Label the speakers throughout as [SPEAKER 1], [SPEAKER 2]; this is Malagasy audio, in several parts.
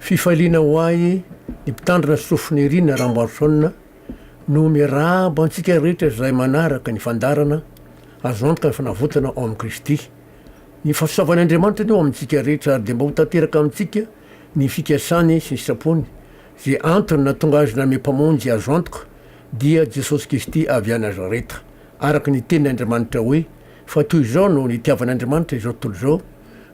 [SPEAKER 1] Fifaliana ho ahy ny mpitandrina sofy Nirina Ramboarisaona no miarahaba antsika rehetra izay manaraka ny fandaharana azo antoka ny fanavotana ao amin'i Kristy. Ny fahasoavan' Andriamanitra anie ho amintsika rehetra ary dia mba ho tanteraka amintsika ny fikasany sy ny sitrapony. Ze antony nahatonga azy nanome Mpamonjy azo antoka dia Jesosy Kisty avy a Nazareta. Araka ny tenin' Andriamanitra hoe. Fa toy izao no nitiavan'Andriamanitra izao tontolo izao,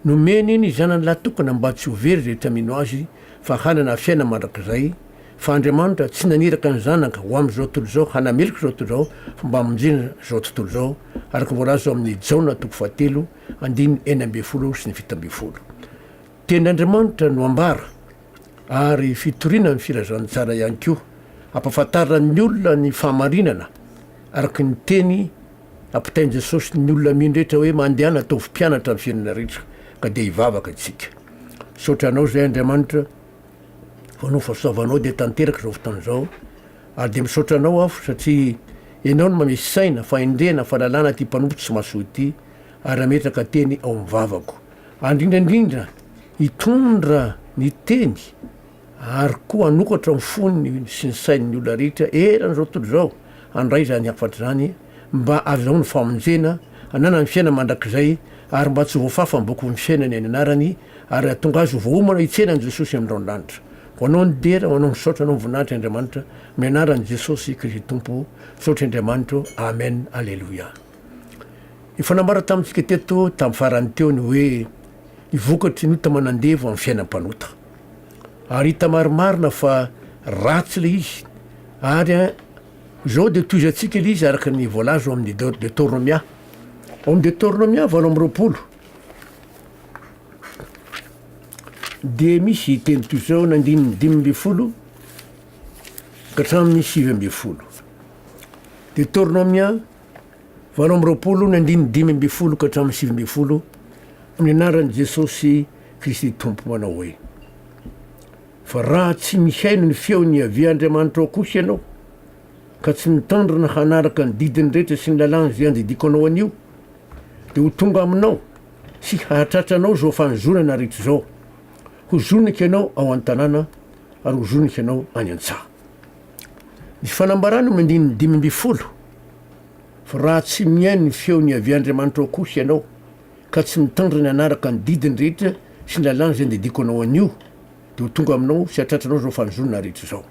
[SPEAKER 1] nomeny ny Zanany lahy tokana mba tsy ho very izay tsy hamino Azy, fa hanana fiainana mandrakizay, fa Andriamanitra tsy naniraka ny Zanaka ho amin'izao tontolo izao hanameloka izao tontolo izao, fa mba hamonjena izao tontolo izao, araka ny voalaza ao amin'ny Jaona toko fahatelo, andininy enina ambin'ny folo sy ny fito ambin'ny folo. Tenin'Andriamanitra no ambara. ary fitoriana ny filazantsara ihany koa. Ampahafantarin'ny olona ny fahamarinana araka ny teny ampitain'i Jesosy ny olona mino rehetra hoe mandehana ataovy mpianatra amin'ny fiainana rehetra ka dia hivavaka isika. Misaotra anao izay Andriamanitra fa noho ny fahasoavanao dia tanteraka izao fotoana izao ary dia misaotra anao aho satria ianao no manome saina, fahendrena, fahalalana ity mpanompo tsy mahasoa ity ary hametraka teny ao amin'ny vavako. Andrindra indrindra hitondra ny teny ary koa hanokatra ny fony sy ny sain'ny olona rehetra eran'izao tontolo izao handray izany hafatra izany mba azahoany famonjena, hananany fiainana mandrakizay ary mba tsy voafafa amin'ny bokin'ny fiainana eny anarany ary hahatonga azy ho voaomana hitsena an'i Jesosy amin'ny raondranitra. Ho anao ny dera, ho anao ny saotra, ho anao ny voninahitra Andriamanitra, amin'ny anaran'i Jesosy Kristy Tompo, misaotra Andriamanitra ô, Amen, Aleloia. Efa nambarako tamintsika teto tamin'ny farany teo ny hoe ny vokatry ny ota manandevo amin'ny fiainan'ny mpanota. Ary hita marimarina fa ratsy ilay izy ary izao dia tohizantsika ilay izy araka ny voalaza ao amin'ny Deoteronomia. Ao amin'ny Deoteronomia valo amby roapolo dia misy teny toy izao na andininy dimy ambin'ny folo ka hatramin'ny sivy ambin'ny folo. Deoteronomia valo amby roapolo ny andininy dimy ambin'ny folo ka hatramin'ny sivy ambin'ny folo amin'ny anaran'i Jesosy Kristy Tompo manao hoe fa raha tsy mihaino ny feon'i Yaveh Andriamanitrao kosa ianao ka tsy mitandrina hanaraka ny didiny rehetra sy ny lalàna izay andidiko anao anio dia ho tonga aminao sy hahatratra anao izao fanozonana rehetra izao ho zoniko ianao ao an-tanàna ary ho zoniko ianao any an-tsaha Ny fanambarana amin'ny andininy dimy ambin'ny folo, Fa raha tsy mihaino ny feony avy Andriamanitra ao kosa ianao, ka tsy mitandrina hanaraka ny didiny rehetra sy ny lalàna izay andidiako anao anio, dia ho tonga aminao sy hatratranao izao fanjonoana rehetra izao.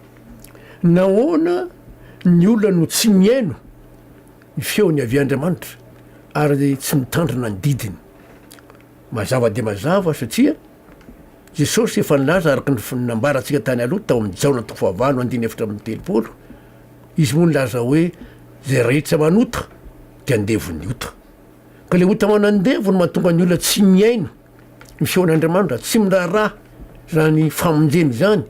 [SPEAKER 1] Nahoana ny olona no tsy mihaino ny feony avy Andriamanitra ary tsy mitandrina ny didiny? Mazava dia mazava, satria. Jesosy efa nilaza araka ny nambarantsika tany aloha tao amin'ny Jaona toko fahavalo andininy efatra amby telopolo, Izy moa nilaza hoe, Izay rehetra manota dia andevo ny ota. Ka ilay ota manandevo no mahatonga ny olona tsy mihaino ny feon'Andriamanitra, tsy miraharaha izany famonjena izany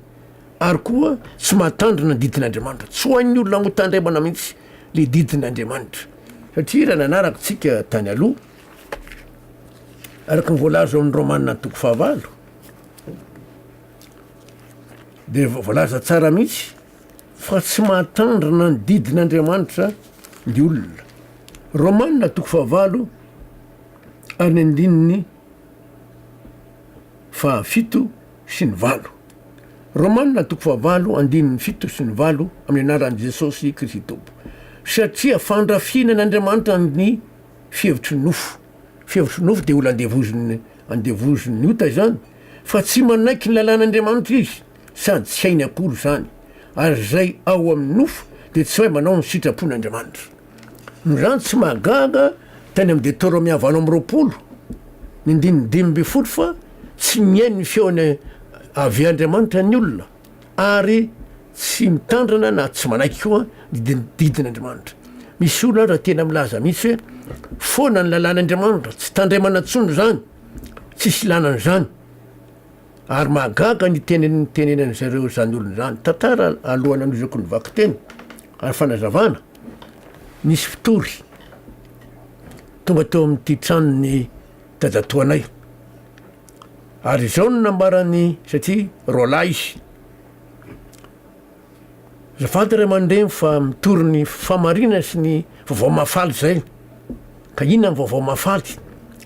[SPEAKER 1] ary koa tsy mahatandrina ny didin'Andriamanitra. Tsy ho an'ny olona ho tandremana mihitsy ilay didin'Andriamanitra satria raha nanaraka isika tany aloha, Araka ny voalaza ao amin'ny Romana ny toko fahavalo dia voalaza tsara mihitsy fa tsy mahatandrina ny didin'Andriamanitra ny olona. Romana toko fahavalo any andininy fahafito sy ny valo. Romana toko fahavalo andininy fito sy ny valo amin'ny anaran'i Jesosy Kristy Tompo. Satria fandrafiana an'Andriamanitra ny fihevitry ny nofo. Fihevitry ny nofo dia olona andevoziny andevoziny ny ota izany fa tsy manaiky ny lalàn'Andriamanitra izy sady tsy hainy akory izany ary izay ao amin'ny nofo dia tsy mahay manao ny sitrapon'Andriamanitra. Izany tsy mahagaga tany amin'ny Detoromia valo amby roapolo ny andininy dimy ambin'ny folo fa tsy mihaino ny feony avy Andriamanitra ny olona. ary tsy mitandrina na tsy manaiky koa ny didin'Andriamanitra. Misy olona aza tena milaza mihitsy hoe foana ny lalàn'Andriamanitra, tsy tandremana intsony izany, tsisy ilana an'izany. Ary mahagaga ny teny nitenenan'i zareo izany olona izany. Tantara alohan'ny hanohizako ny vakiteny ary fanazavana, nisy mpitory tonga teo amin'ity tranon'ny dadatoanay, Ary izao no nambaran'ny, satria roalahy izy, Azafady ray aman-dreny fa mitory ny fahamarinana sy ny vaovao mahafaly izay. Ka inona ny vaovao mahafaly?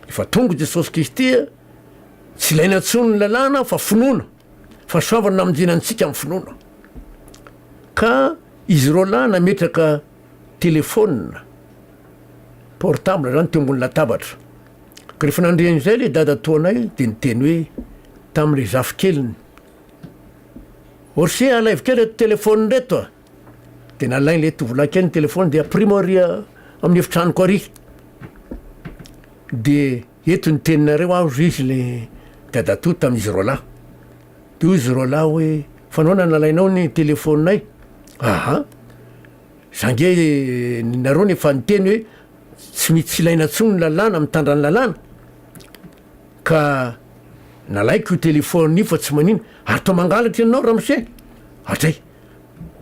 [SPEAKER 1] Efa tonga Jesosy Kristy a! Tsy ilaina intsony ny lalàna fa finoana, fa soavina namonjena antsika amin'ny finoana. Ka izy roalahy nametraka telefaonina portable izany teo ambony latabatra. Ka rehefa nandre an'izay ilay dadatoanay dia niteny hoe tamin'ilay zafikeliny, Orse alaivo kely reto telefaonina reto a! Dia nalain'ilay tovolahy kely ny telefaoniny dia ampirimao ary amin'ny efitranoko ary. Dia eto ny teninareo aho hoy izy ilay dadatoa tamin'izy roa lahy. Dia hoy izy roa lahy hoe fa nahoana nalainao ny telefaoninay? Aha, za nge nareo no efa niteny hoe Tsy ny tsy ilaina intsony ny lalàna mitandra ny lalàna ka nalaiko io téléphone io fa tsy manina ary toa mangalatra ianao ramose hatray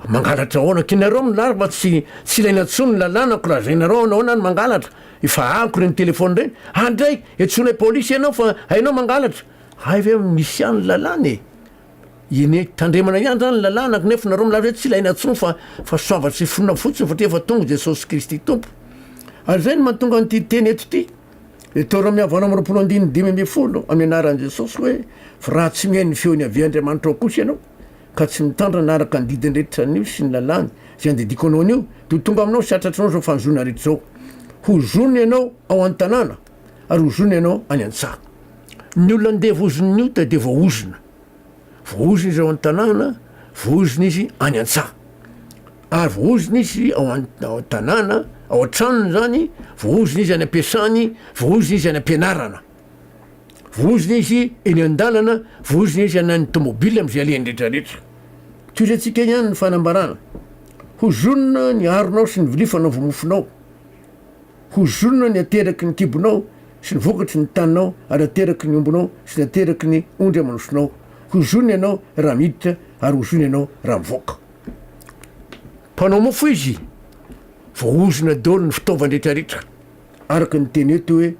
[SPEAKER 1] mangalatra ahoana ka ianareo milary fa tsy tsy ilaina intsony ny lalàna ko lazainareo anao na ny mangalatra efa ako ireny téléphone ireny andray etsonay polisy ianao fa hainao mangalatra hay ve misy ihany lalàna e Eny e, tandremana ihany zany ny lalàna nefa nareo milaza hoe tsy ilaina intsony fa fa soava sy finoana fotsiny satria efa tonga Jesosy Kristy Tompo. Ary zay no mahatonga an'ity teny eto ity, eto Rômia valo amby roapolo andininy dimy ambin'ny folo, amin'ny anaran'i Jesosy hoe, fa raha tsy mihaino ny feon'i Yaveh Andriamanitra ao kosa ianao, ka tsy mitandrina araka ny didiny rehetra anio sy ny lalàny izay andidiko anao anio, dia ho tonga aminao sy hatratrao izao fanjohiana rehetra izao. Ho zono ianao ao an-tanàna. ary ozona ianao any an-tsaha. Ny olona ndevozin'ny ota dia voaozona. Voaozona izy ao an-tanàna, voaozona izy any an-tsaha. Ary voaozona izy ao an-tanàna, ao an-tranony izany, voaozona izy any am-piasany, voaozona izy any am-pianarana. Voaozona izy eny an-dalana, voaozona izy any amin'ny tômôbily amin'izay alehany rehetrarehetra. Tohizantsika ihany ny fanambarana, Hozonina ny aronao sy ny vilia fanaovo-mofonao. Ho zorona ny ateraky ny kibonao sy ny vokatry ny taninao ary ateraky ny ombinao sy ny ateraky ny ondry aman'osonao. Ho zorona ianao raha miditra ary ho zorona ianao raha mivoaka. Mpanao mofo izy. Voaozona daholo ny fitaovany rehetra rehetra, araka ny teny eto hoe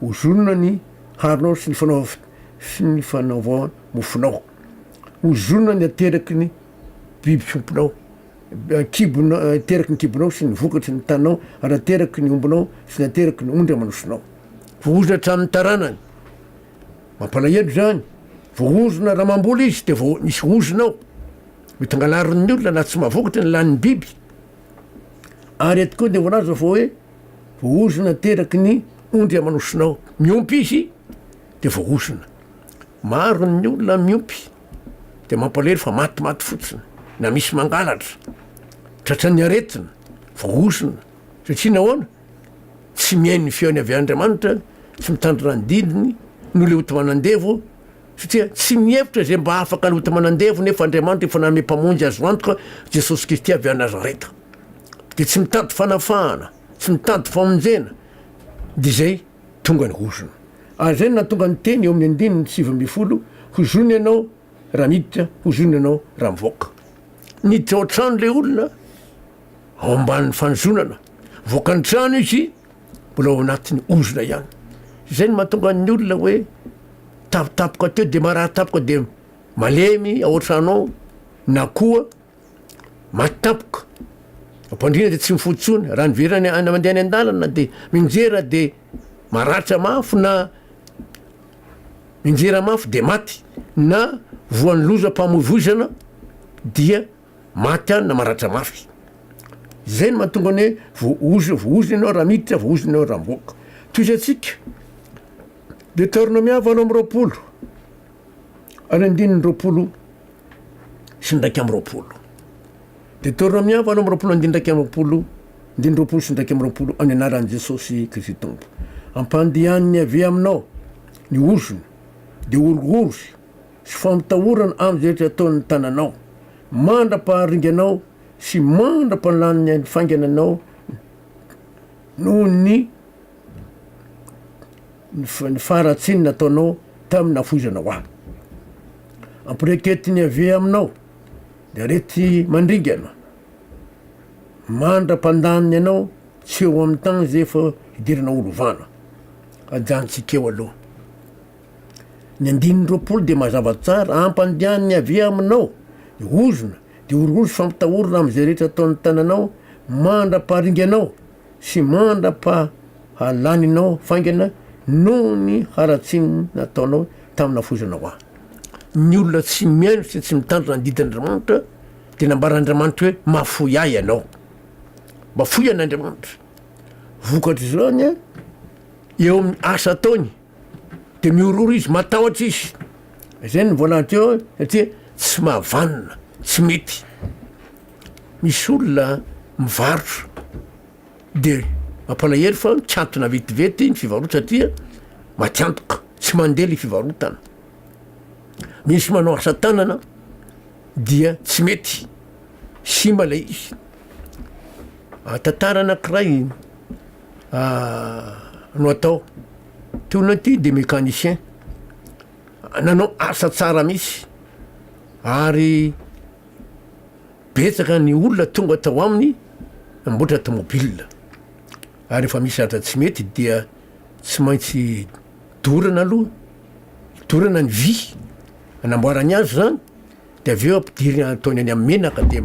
[SPEAKER 1] ho zorona ny haronao sy ny fanaova sy ny fanaova mofonao. Ho zorona ny ateraky ny biby fiompinao. kibonao, ateraky ny kibonao sy ny vokatry ny taninao, ary ateraky ny ombinao sy ny ateraky ny ondry aman-drosinao. Voahozona hatramin'ny taranany. Mampalahelo izany. Voahozona, raha mamboly izy dia vao misy ozona ao. Mety hangalarin'ny olona na tsy mahavokatra ny lanin'ny biby. Ary eto koa dia voalaza fa hoe voahozona ateraky ny ondry aman-drosinao. Miompy izy dia voahozona. Maro ny olona miompy. dia mampalahelo fa matimaty fotsiny na misy mangalatra, tratran'ny aretina, voahosona, satria nahoana? tsy mihaino ny feony avy Andriamanitra, tsy mitandrina ny didiny, no le ota manandevo, satria tsy mihevitra izay mba afaka ny ota manandevo nefa Andriamanitra efa nanome mpamonjy azo antoka Jesosy Kristy avy any Nazareta, dia tsy mitady fanafahana, tsy mitady famonjena, dia izay. Tonga ny hozona. Ary izay no nahatonga ny teny eo amin'ny andininy sivy ambin'ny folo, Hozono ianao raha miditra, hozono ianao raha mivoaka. Niditra ao an-trano ilay olona ao ambanin'ny fanozonana. Nivoaka ny trano izy, mbola ao anatin'ny hozona ihany. Izay no mahatonga ny olona hoe tapitapoka teo dia marary tapoka dia malemy ao an-trano ao, na koa Maty tampoka. Ampandriana dia tsy mifoha intsony. Raha niverina any mandeha any an-dalana dia minjera dia maratra mafy na minjera mafy dia maty na voan'ny lozam-pamoivoizana dia maty any na maratra mafy. Izay no mahatonga ny hoe voaozona, voaozona ianao raha miditra, voaozona ianao raha mivoaka. Tohizantsika. Deuteronomia valo amby roapolo ary andininy roapolo. sy ny iraika amby roapolo. Deoteronomia valo amby roapolo andininy iraika amby roapolo, andininy roapolo sy ny iraika amby roapolo, amin'ny anaran'i Jesosy Kristy Tompo. Ampandehanin'i Yaveh aminao ny ozona, dia horohoro sy fampitahorana amin'izay rehetra ataon'ny tananao, mandra-paharinganao sy mandra-palanin'ny ainy faingana anao noho ny ny faharatsiany nataonao tamin'ny nafoizanao ahy. Ampireketin'i Iaveh aminao ny areti-mandringana, mandra-pandaniny anao tsy eo amin'ny tany izay efa hidiranao holovana. Ajanontsika eo aloha. Ny andininy roapolo dia mazava tsara, hampandehan'i Iaveh aminao ny ozona, dia horohoro sy fampitahorina amin'izay rehetra ataon'ny tananao mandra-paharinganao. sy mandra-pahalaninao faingana noho ny haratsiany nataonao tamin'ny nafoizanao ahy. Ny olona tsy mihaino sy tsy mitandrina ny didin'Andriamanitra dia nambaran'Andriamanitra hoe, Mahafoy ahy ianao. Mahafoy an'Andriamanitra. Vokatr'izany, eo amin'ny asa ataony. Dia mihorohoro izy, matahotra izy. Izay no voalany teo satria tsy mahavanona, tsy mety. Misy olona mivarotra dia mampalahelo fa mikantona vetivety ny fivarotana satria matiantoka, tsy mandeha ilay fivarotana. Misy manao asa tanana dia tsy mety, simba ilay izy. Tantara anankiray no atao. Ty olona ity dia mécanicien, nanao asa tsara mihitsy ary betsaka ny olona tonga tao aminy namboatra tomobile. Ary rehefa misy zavatra tsy mety dia tsy maintsy dorana aloha, dorana ny vy anamboarany azy zany. Dia avy eo ampidiriny ataony any amin'ny menaka dia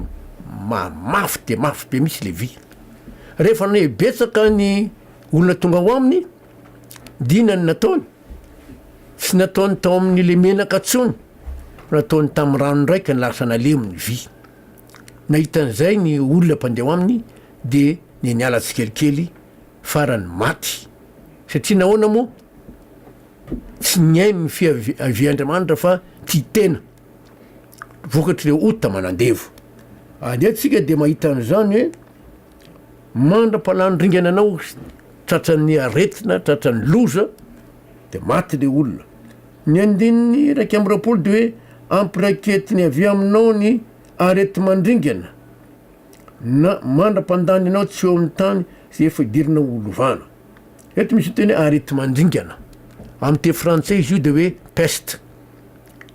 [SPEAKER 1] mafy dia mafy be mihitsy le vy. Rehefa nahia betsaka ny olona tonga ao aminy dia inona no nataony? Tsy nataony tao amin'ilay menaka intsony fa nataony tamin'ny rano indray ka lasa nalemy ny vy. Nahita an'izay ny olona mpandeha ao aminy dia nianiala tsikelikely farany maty. Satria nahoana moa? Tsy nihaino ny fiavian'Andriamanitra fa tia tena, vokatr'ireo ota manandevo. Ary isika dia mahita an'izany hoe mandra-palan'ny ringana anao tratran'ny aretina, tratran'ny loza, dia maty ilay olona. Ny andininy iraika amby roapolo dia hoe ampiraiketiny avy aminao ny areti-mandringana na mandra-pandany anao tsy eo amin'ny tany izay efa idirinao ho lovana. Eto misy ny teny arety mandringana. Amin'ny teny frantsay izy io dia hoe peste.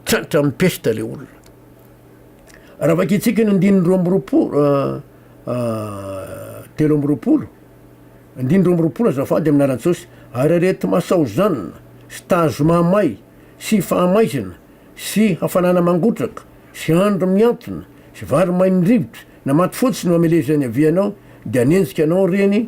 [SPEAKER 1] Tratra amin'ny peste ilay olona. Raha vakintsika ny andininy roa amby roapolo ah, ah, telo amby roapolo, andininy roa amby roapolo azafady amin'ny lalan-tsaosy, ary arety masaozanina sy tazo mahamay sy fahamaizana sy hafanana mangotraka sy andro mihantona sy vary maimn-drivotra na maty fotsy no amelezan'ny havianao dia hanenjika anao ireny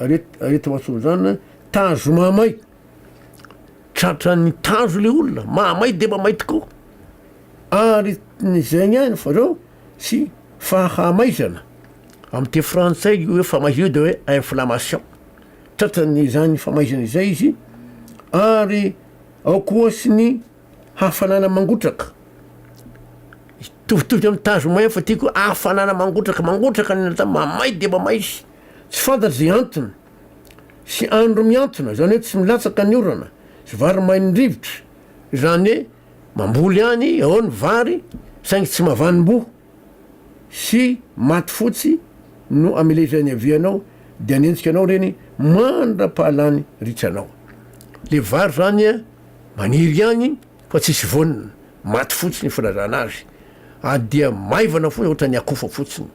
[SPEAKER 1] Aretina antsoina izany tazo mahamay, tratran'ny tazo ilay olona, mahamay dia mahamay tokoa, aretin'izay ihany fa reo sy fahamaizana, amin'ny teny frantsay io hoe famaizana io dia hoe inflammation, tratran'izany famaizana izay izy ary ao koa sy ny. Hafanana mangotraka, mitovitovy amin'ny tazo may fa ty koa hafanana mangotraka, mangotraka ny natao mamay dia mamay izy, tsy fantatra izay antony sy andro mihantona, izany hoe tsy milatsaka ny orana sy vary main'ny rivotra, izany hoe mamboly any ao ny vary saingy tsy mavanim-boa. sy maty fotsy no amile izay niavianao dia nenjika anao reny mandrapahalany ritsy anao le vary zany a maniry ihany fa tsisy voniny maty fotsiny filazana azy a dia maivana foana ohatra ny akofa fotsiny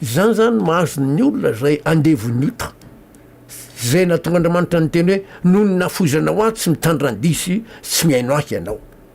[SPEAKER 1] zany zany mahazo ny olona zay andevony ota zay natonga Andriamanitra niteny hoe noho ny nafoizanao ahy tsy mitandrandisy tsy mihaino ahy ianao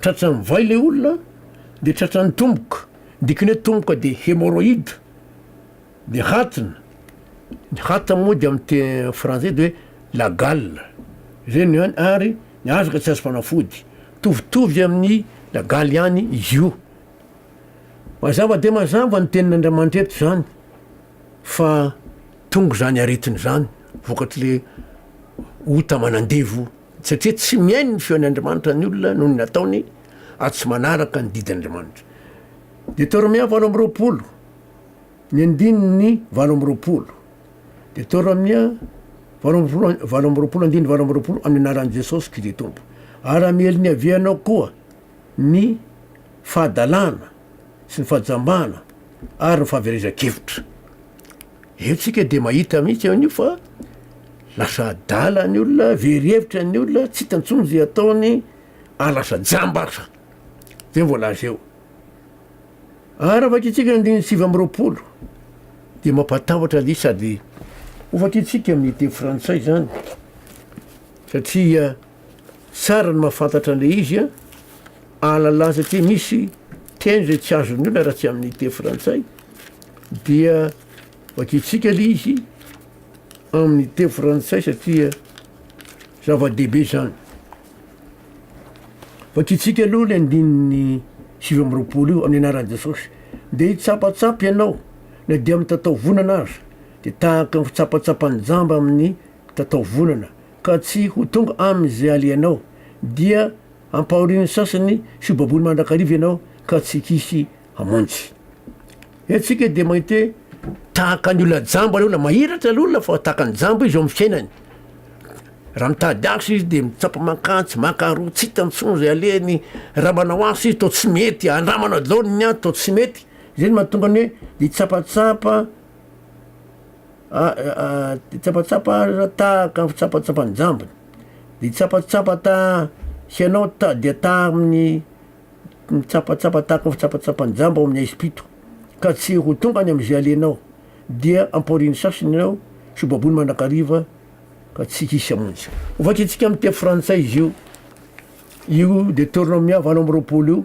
[SPEAKER 1] Tratran'ny vay le olona de tratran'ny tomboka, dikany hoe tomboka de hemorroïde de hatina, ny hata moa de amin'ny teny frantsay de hoe la gale, zay no ihany ary ny azy ka tsy azo fanafody, mitovitovy amin'ny la gale ihany izy io. Mazava dia mazava ny tenin'Andriamanitra eto zany fa tonga izany aretina izany vokatr'le ota aman'andevo Satria tsy mihaino ny feon' Andriamanitra ny olona noho ny nataony ary tsy manaraka ny didin' Andriamanitra. Deoteromià valo amby roapolo, ny andininy valo amby roapolo. Deoteromià valo amby roapolo, valo amby roapolo, andininy valo amby roapolo, Amin' ny anaran' i Jesosy Kristy Tompo, ary hamely ny havianao koa ny fahadalana sy ny fahajambana ary ny fahaverezan-kevitra. Entsika dia mahita mihitsy an'io fa lasa adala ny olona, very hevitra ny olona, tsy hita intsony izay ataony ary lasa jamba aza. Izay ny voalaza eo. Ary raha vakintsika ny andininy sivy amby roapolo dia mampatahotra azy sady hovakintsika amin'ny teny frantsay izany satria Tsara ny mahafantatra an'ilay izy an! Ahalalana satria misy teny izay tsy azon'ny olona raha tsy amin'ny teny frantsay dia vakintsika ilay izy amin'ny teny frantsay satria zava-dehibe izany. Vakintsika aloha ilay andininy sivy amby roapolo io amin'ny anaran'i Jesosy. Dia hitsapatsapa ianao na dia amin'ny tatao vonana aza, dia tahaka ny fitsapatsapan'ny jamba amin'ny tatao volana, ka tsy ho tonga amin' izay alehanao, dia ampahorin' ny sasany sy ho baboina mandrakariva ianao ka tsy hisy hamonjy. Eto isika dia mahita hoe tahaka ny olona jamba ilay olona, mahiratra ilay olona fa tahaka ny jamba izy eo amin'ny fiainany. Raha mitady asa izy dia mitsapa mankany, tsy mankaroa, tsy hitany intsony izay alehany, raha manao asa izy toa tsy mety, andramana daholo ny ady toa tsy mety, izay no mahatonga ny hoe hitsapatsapa Tsapatsapa taha ka tsapatsapan-jambony, ny tsapatsapa taha hianao ta- dia taha amin'ny tsapatsapa tahaka ny fitsapatsapan-jamba ao amin'ny haizim-pito ka tsy ho tonga any am'zay alehanao dia ampaorian'ny sasany ianao sy ho baboina mandrakariva ka tsy hisy hamonjy. Hovakintsika amin'ny teny frantsay izy io, io Deuteronomia valo amby roapolo io.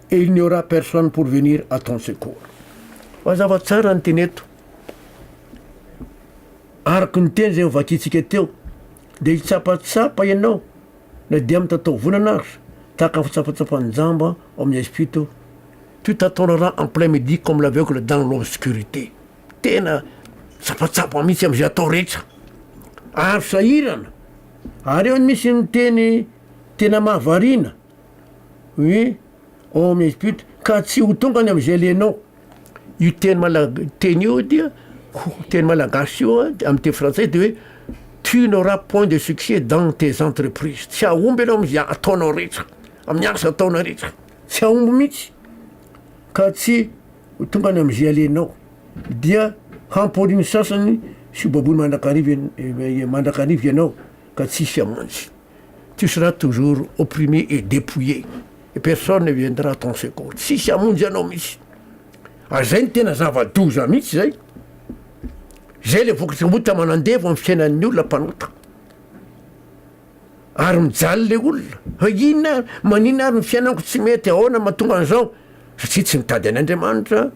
[SPEAKER 1] et il n'y aura personne pour venir à ton secours. Mazava tsara ny teny eto. Araka ny teny izay hovakiantsika teo, dia hitsapatsapa ianao na dia mitataovonana aza, tahaka ny fitsapatsapan'ny jamba ao amin'ny Espito, tu tatoneras en plein midi comme l'aveugle dans l'obscurité. Tena tsapatsapa mihitsy amin'izay atao rehetra. Azo sahirana. Ary eo no misy ny teny tena mahavariana. Oui, on m'écoute, ka tsy ho tonga any amin'izay ilainao. Io teny malag- teny io dia ho- teny malagasy io a, amin'ny teny frantsay dia hoe tu n'auras point de succès dans tes entreprises, tsy hahomby ianao amin'izay ataonao rehetra, amin'ny asa ataonao rehetra, tsy hahomby mihitsy, ka tsy ho tonga any amin'izay ilainao. Dia hamporia ny sasany sy hobaboina mandrakariva ian- mandrakariva ianao ka tsy hisy hamonjy. Tu seras toujours opprimé et dépouillé et personne ne viendra à ton secours, tsisy hamonjy anao mihitsy. Ary zay no tena zava-doza mihitsy zay. Zay le vokatry ny ota manandevo amin'ny fiainan'ny olona mpanota. Ary mijaly le olona, fa inona ary, manina ary ny fiainako tsy mety, ahoana mahatonga an'izao? Satria tsy mitady an'Andriamanitra,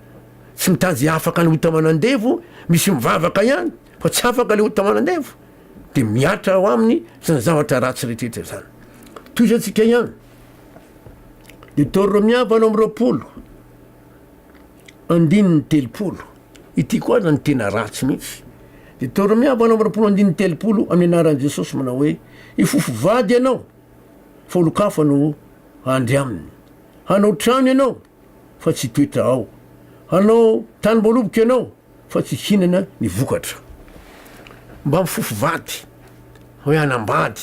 [SPEAKER 1] tsy mitady afaka ny ota manandevo, misy mivavaka ihany fa tsy afaka le ota manandevo. dia mihatra ao aminy izany zavatra ratsy rehetrarehetra izany. Tohizantsika ihany. Ny toro Romia valo amby roapolo, andininy telopolo. Ity koa aza ny tena ratsy mihitsy. Ny toro Romia valo amby roapolo, andininy telopolo, amin'ny anaran'i Jesosy manao hoe, hifofo vady ianao, fa olon-kafa no handry aminy. Hanao trano ianao, fa tsy toetra ao. Hanao tanim-boaloboka ianao fa tsy hihinana ny vokatra. Mba mifofo vady hoe hanambady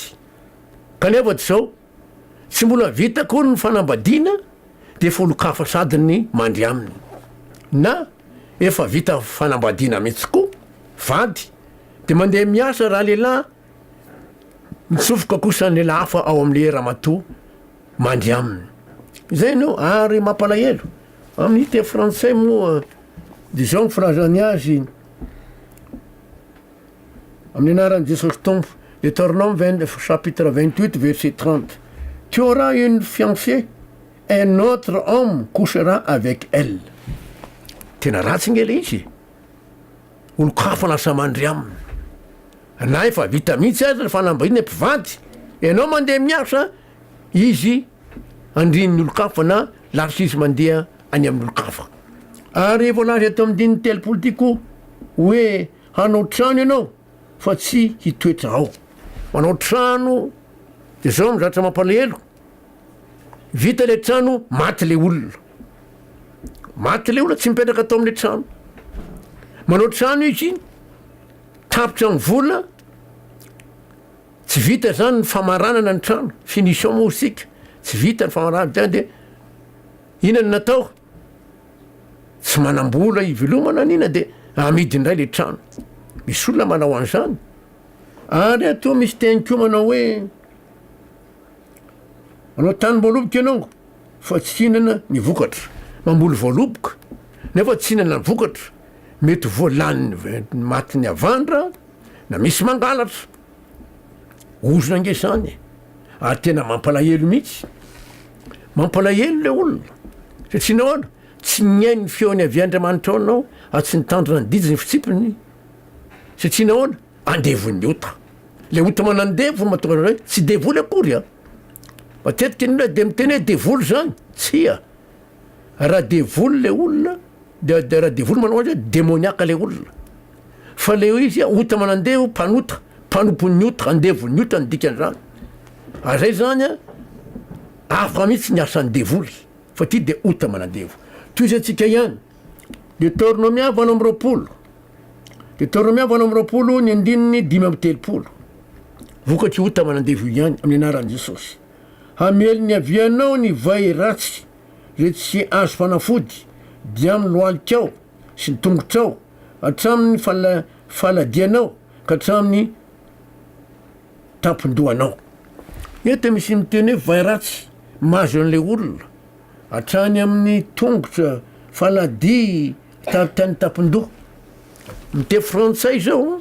[SPEAKER 1] kanefa tsy zao tsy mbola vita akory ny fanambadiana dia efa olon-kafa sady ny mandry aminy na efa vita fanambadiana mihitsy koa vady dia mandeha miasa raha lehilahy mitsofoka kosa ny lehilahy hafa ao amin'ilay ramatoa mandry aminy. Zay no ary mampalahelo. Amin'ny teny frantsay moa dia izao ny filazany azy, Amin'ny anaran'i Jesosy Tompo, Deuteronome 20, chapitre 28 verset 30, Tu auras une fiancée, un autre homme couchera avec elle. Tena ratsy nge le izy. Olon-kafa lasa mandry aminy. Na efa vita mihitsy aza ny fanambadiana mpivady, ianao mandeha miasa, izy andrin'ny olon-kafa na laroshise mandeha any amin'olon-kafa. Ary voalaza eto amin'ny dininy telopolo ity koa hoe hanao trano ianao fa tsy hitoetra ao. Manao trano de zao no zatra mampalahelo, vita le trano maty le olona. Maty le olona tsy mipetraka tao amin'ny trano. Manao trano izy, tapitra amin'ny vola, Tsy vita zany ny famaranana ny trano, finition moa isika, tsy vita ny famaranana zany de ina no natao? Tsy manam-bola hivelomana ny ina de amidy indray le trano. Misy olona manao an'izany. Ary atoa misy teny koa manao hoe manao tany voaloboka ianao fa tsy hinana ny vokatra. Mamboly voaloboka nefa tsy hinana ny vokatra, mety voalaniny matin'ny havandra, Na misy mangalatra ozona ange zany e! ary tena mampalahelo mihitsy, mampalahelo ilay olona satria nahoana? tsy nihaino ny feony avy Andriamanitra ao ianao ary tsy nitandrina ny didy sy ny fitsipiny satria nahoana? andevon'ny ota, ilay ota manandevo no mahatonga anao hoe tsy devoly akory a! matetika ny olona dia miteny hoe devoly zany, tsia! raha devoly le olona de de raha devoly manao azy demoniaka le olona fa le hoe izy ota manandevo mpanota mpanompon'ny ota andevon'ny ota ny dikan'izany ary zay zany a hafa mihitsy ny asan'ny devoly fa ty de ota manandevo toy izy antsika ihany Deuteronomia valo amby roapolo Deuteronomia valo amby roapolo ny andininy dimy amby telopolo vokatry ota manandevo ihany amin'ny anaran'i Jesosy Hamely ny avianao ny vay ratsy izay tsy azo fanafody, dia amin'ny lohalikao sy ny tongotrao, hatramin'ny faladianao ka hatramin'ny tampon-dohanao. Eto misy miteny hoe vay ratsy mahazo an'ilay olona, hatrany amin'ny tongotra, faladia, hatrany tampon-doha. Ny teny frantsay izao.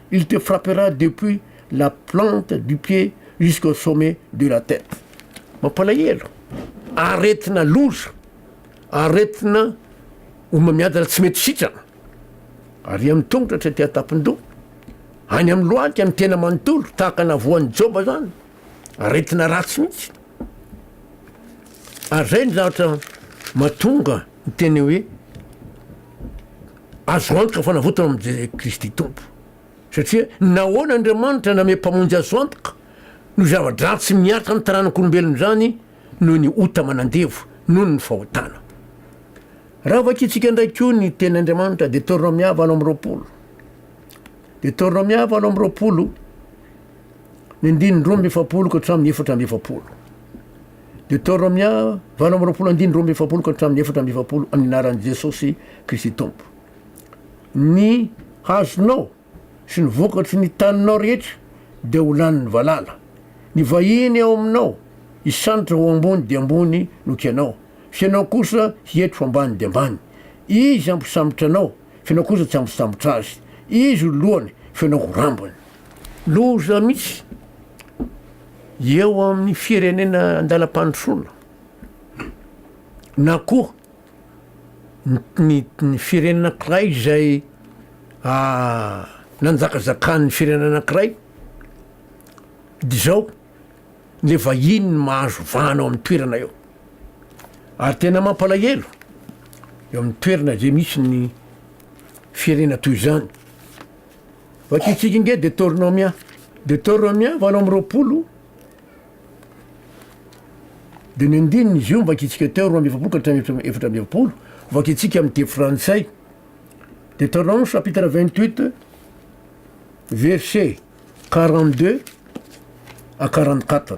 [SPEAKER 1] Il te frappera depuis la plante du pied jusqu'au sommet de la tête. Mampalahelo. Aretina loza. Aretina homamiadana tsy mety sitrana. Ary amin'ny tongotra hatraty an-tampon-doha. Any amin'ny lohalika ny tena manontolo tahaka na voan'i Joba izany. Aretina ratsy mihitsy. Ary izay ny zavatra mahatonga ny teny hoe Azo antoka fanavotana amin'i Kristy Tompo. Satria nahoana Andriamanitra namehy Mpamonjy azo antoka? Noho zava-dratsy niaritra ny taranak'olombelona izany noho ny ota manandevo, noho ny fahotana. Raha vakintsika indray koa ny Teny Andriamanitra, Deteronomia valo amby roapolo. Deteronomia valo amby roapolo, ny andininy roa amby efapolo ka hatramin'ny efatra amby efapolo. Deoterômia valo amby roapolo andininy roa amby efapolo ka hatramin'ny efatra amby efapolo amin'ny anaran'i Jesosy Kristy Tompo. Ny hazonao sy ny vokatry ny taninao rehetra dia ho lanin'ny valala. Ny vahiny ao aminao hisandotra ho ambony dia ambony noho ianao, fa ianao kosa hiety ho ambany dia ambany. Izy hampisambotra anao, fa ianao kosa tsy hampisambotra azy. Izy ho lohany, fa ianao ho rambony. Loza misy eo amin'ny firenena an-dalam-pandrosoana na koa ny firenena anankiray izay nanjakazakan'ny firenena anankiray dia izao, le vahiny no mahazo vahana ao amin'ny toerana eo. Ary tena mampalahelo eo amin'ny toerana izay misy ny firenena toy izany. Vakiantsika ange Detornomia. Detornomia valo amby roapolo dia ny andininy izy io no vakiantsika teo, roa amby efapolo ka hatramin'ny efatra amby efapolo, vakiantsika amin'ny teny frantsay. Detornome chapitre 28 verset 42 à 44.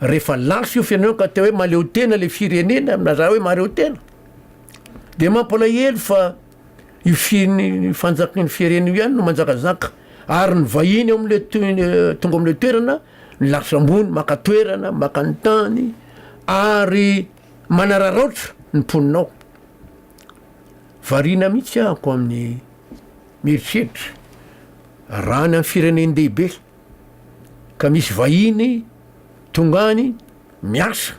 [SPEAKER 1] rehefa lany fiofy anao ka teo hoe maleo tena le firenena na za hoe mareo tena de mampalahelo fa io finy fanjakan' ny firenena io ihany no manjakazaka ary ny vahiny ao am'le to- tonga am'le toerana ny lafitra ambony maka toerana maka ny tany ary manararaotra ny mponina ao variana mihitsy ahako amin'ny mieritreritra raha any am' firenen-dehibe ka misy vahiny tonga any miasa,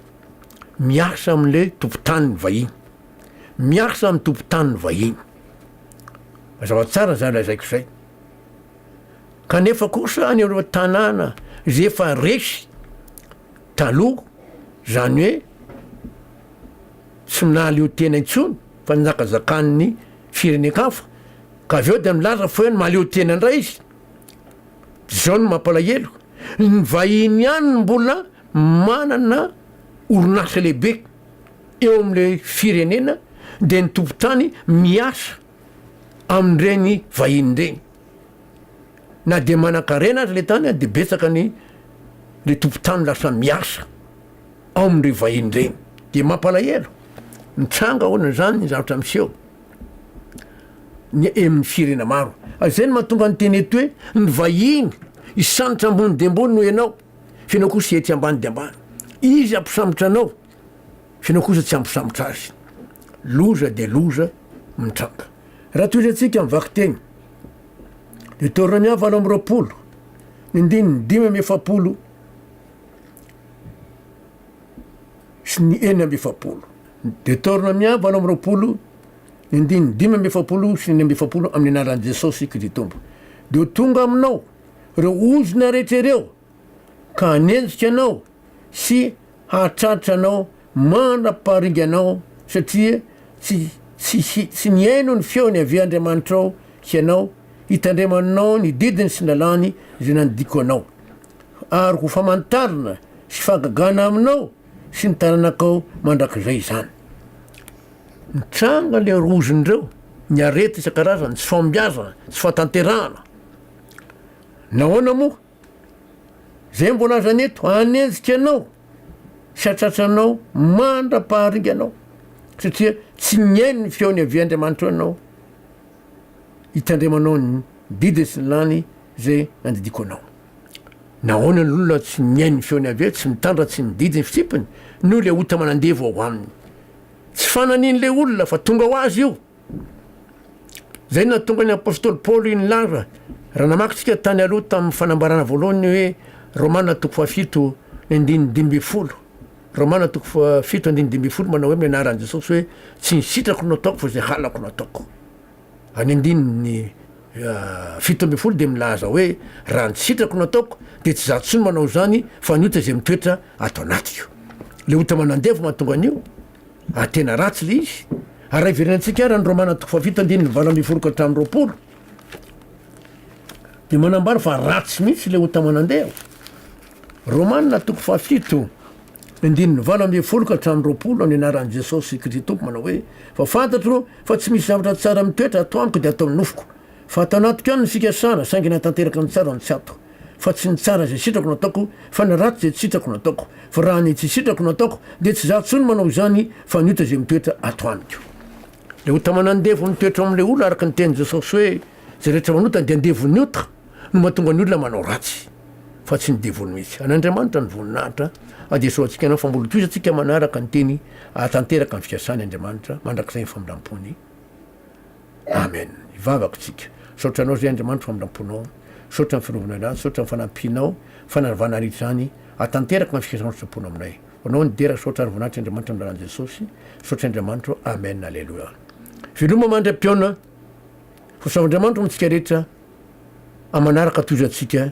[SPEAKER 1] miasa amin'le tompon-tany ny vahiny, miasa amin'ny tompon-tany ny vahiny. Mazava tsara izay lazaiko izay. Kanefa kosa any amin'ireo tanàna izay efa resy taloha, izany hoe tsy nahaleo tena intsony fa nizakazakan'ny firenen-kafa, ka avy eo dia milaza fa hoe mahaleo tena indray izy, John, Mampalahelo, ny vahiny ihany no mbola manana orinasa lehibe eo amin'ilay firenena dia ny tompon-tany miasa amin'ireny vahiny ireny. Na dia manan-karena aza ilay tany dia betsaka ny ilay tompon-tany lasa miasa ao amin'ireny vahiny ireny. Dia mampalahelo, mitranga ahoana izany ny zavatra miseho? ny emin'ny firena maro. Izay no mahatonga ny teny eto hoe ny vahiny hisambotra ambony dia ambony noho ianao, fa ianao kosa ety ambany dia ambany. Izy hampisambotra anao, fa ianao kosa tsy hampisambotra azy. Loza dia loza mitranga. Raha tohizantsika amin'ny vakiteny, Deoteronomia valo amby roapolo, ny andininy dimy amby efapolo sy ny enina amby efapolo. Dia taorina miahy valo amby roapolo ny andininy dimy amby efapolo sy ny enina amby efapolo amin'ny anaran'i Jesosy Kristy Tompo. Dia ho tonga aminao ireo ozona rehetra ireo ka hanenjika anao sy hahatratra anao mandra-pahariga anao satria tsy tsy tsy nihaino ny feon'i Yaveh Andriamanitrao hianao hitandremanao ny didiny sy ny lalàny izay nandidiako anao. Ary ho famantarana sy fahagagana aminao sy ny taranakao mandrakizay izany. Mitranga le rozin'ireo, ny arety isan-karazany, tsy fahombiazana, tsy fahatanterahana. Nahoana moa? Zay mbola aza ny eto, hanenjika anao sy hatratranao mandra-paharinganao, satria tsy nihaino ny feony avy Andriamanitra eo anao, hitandremanao ny didiny sy ny lany zay nandidiako anao. Nahoana ny olona tsy mihaino ny feon'i Yaveh, tsy mitandra, tsy mididy ny fitsipiny? Noho ilay ota manandevo ao aminy. Tsy fananian'ilay olona fa tonga ho azy io. Izay no nahatonga ny apostoly Paoly nilaza, raha namaky isika tany aloha tamin'ny fanambarana voalohany hoe Romana toko fahafito ny andininy dimy ambin'ny folo. Romana toko fahafito andininy dimy ambin'ny folo manao hoe amin'ny anaran'i Jesosy hoe tsy ny sitrako no ataoko fa izay halako no ataoko. Ny andininy fito ambin'ny folo dia milaza hoe, Raha ny sitrako no ataoko, dia tsy izaho intsony manao izany, fa ny ota izay mitoetra ato anatiko. Ilay ota manandevo mahatonga an'io, ary tena ratsy ilay izy. Ary raha hiverenantsika àry any Romana toko fahafito andininy valo ambin'ny folo ka hatramin'ny roapolo, dia manambara fa ratsy mihitsy ilay ota manandevo. Romana toko fahafito. Ny andininy valo ambin'ny folo ka hatramin'ny roapolo ny anaran'i Jesosy Kjtompo manao hoe, Fa fantatro fa tsy misy zavatra tsara mitoetra ato amiko dia ato amin'ny nofoko. Fa ato anatiko ihany ny fikasana, saingy na tanteraka ny tsara no tsy ato. Fa tsy ny tsara izay sitrako no ataoko, fa ny ratsy izay tsy sitrako no ataoko. Fa raha ny tsy sitrako no ataoko, dia tsy izaho intsony manao izany, fa ny ota izay mitoetra ato amiko. Ilay ota manandevo mitoetra ao amin'ilay olona, araka ny tenin'i Jesosy hoe, Izay rehetra manota dia andevon'ny ota, no mahatonga ny olona manao ratsy. fa tsy ny devoly mihitsy. An'Andriamanitra ny voninahitra, adesoa antsika anao fa mbola tohizo antsika manaraka ny teny ahatanteraka ny fikasany Andriamanitra mandrakizay ny famindrampony. Amen. Hivavaka isika. Misaotra anao zay Andriamanitra famindramponao. Misaotra ny fiarovana anay, misaotra ny fanampianao, fanarvana ary izany ahatanteraka ny fikasanao sitrapony aminay. Ho anao ny dera, misaotra ary voninahitry Andriamanitra amin'ny lalan'i Jesosy. Misaotra Andriamanitra ô. Amen. Aleloia. Veloma mandra-pihaona. Ho saohan'Andriamanitra hoantsika rehetra. Amanaraka tohizo antsika.